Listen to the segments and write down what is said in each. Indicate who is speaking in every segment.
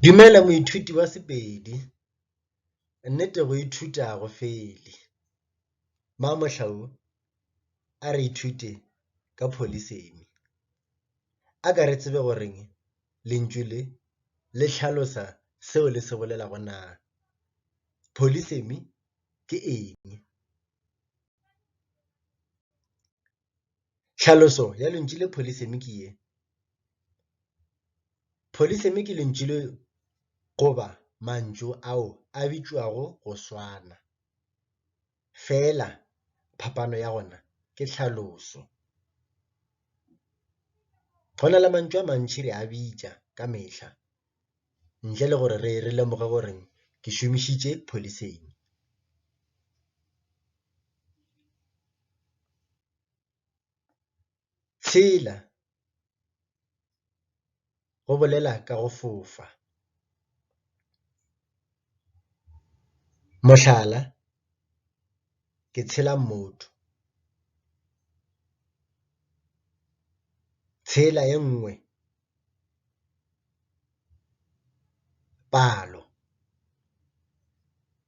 Speaker 1: Dumela moithuti wa Sepedi. Nnete go ithuta ga go fele. Mamohlau a re ithute ka pholisemi. A ka re tsebe gore lentšu le le hlalosa seo le se bolelago na. Pholisemi ke eng? Tlhaloso ya lentšu le polisemi ke ye, Polisemi ke lentšu le goba mantšu ao a bitšwago go swana, feela phapano ya gona ke tlhaloso. Go na le mantšu a mantši re a bitša ka mehla. ntle le gore re re lemoge gore ke šomišitše pholiseng. Tshela, go bolela ka go fofa. Mohlala, Ke tshela mmoto. Tshela e nngwe. palo,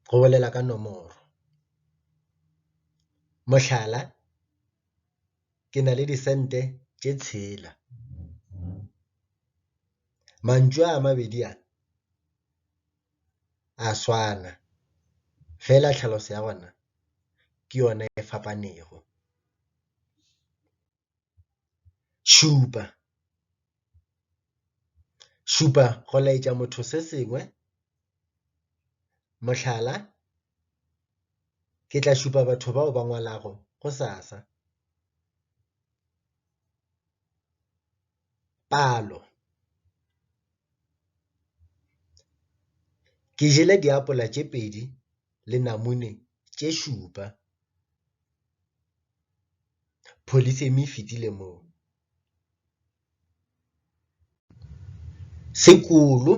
Speaker 1: go bolela ka nomoro. Mohlala, ke na le disente tše tshela. Mantšu a mabedi a, a swana fela tlhaloso ya ona ke yona e fapanego. Šupa, šupa go laetša motho se sengwe, mohlala, Ke tla šupa batho bao ba ngwalago gosasa. Palo, Ke jele diapola tše pedi le namune tše šupa. Polythemy e fetile moo. Sekulu,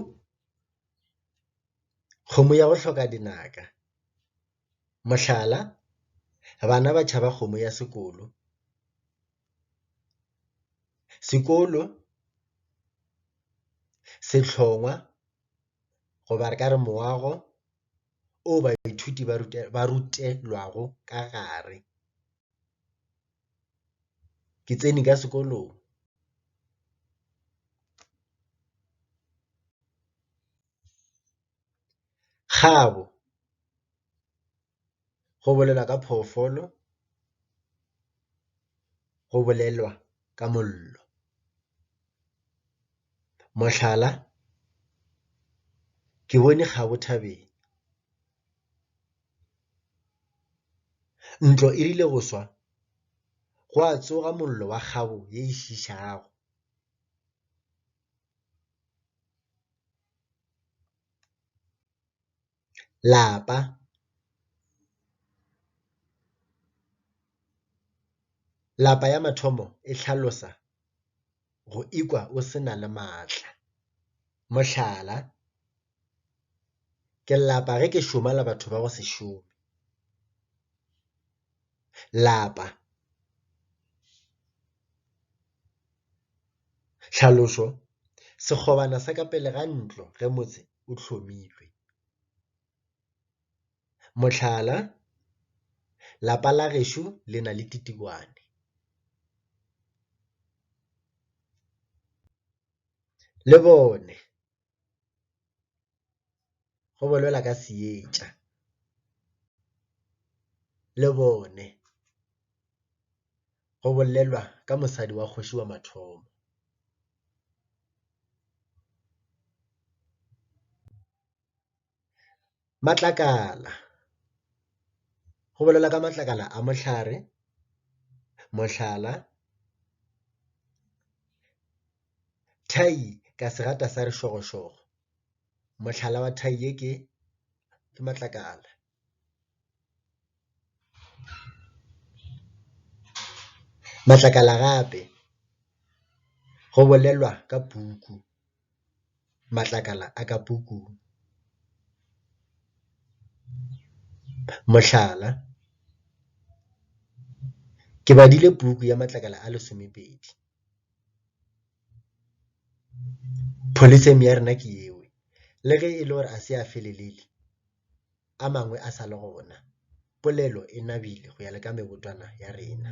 Speaker 1: kgomo ya go hloka dinaka. Mohlala, Bana ba tšhaba kgomo ya sekulu. Sekulu, sehlongwa goba re ka re moago o baithuti ba rutelwago ka gare. Ke tsene ka sekolong kgabo go bolela ka phoofolo. go bolelwa ka mollo. Mohlala, ke bone kgabo thabeng. Ntlo e rile go swa gwa tsoga mollo wa kgabo ye e šišago. lapa lapa ya mathomo e hlalosa go ikwa o se na le maatla. Mohlala, ke lapa ge ke šoma le batho ba go se šome. lapa. Tlhalošo, Sekgobana sa ka pele ga ntlo ge motse o hlomilwe. Mohlala, Lapa la gešo le na le Titikwane. Lebone. go bolelwa ka seetša le bone go bolelwa ka mosadi wa kgoši wa mathomo. Matlakala, go bolelwa ka matlakala a mohlare, mohlala, thai ka segata sa rešogošogo, mohlala wa thai ye ke matlakala. Matlakala gape go bolelwa ka puku. matlakala a ka pukung. Mohlala, Ke badile puku ya matlakala a lesomepedi. Polytheme ya rena ke yeo. Le ge e le gore a se a felelele, a mangwe a sa le gona. Polelo e nabile go ya le ka mebotwana ya rena.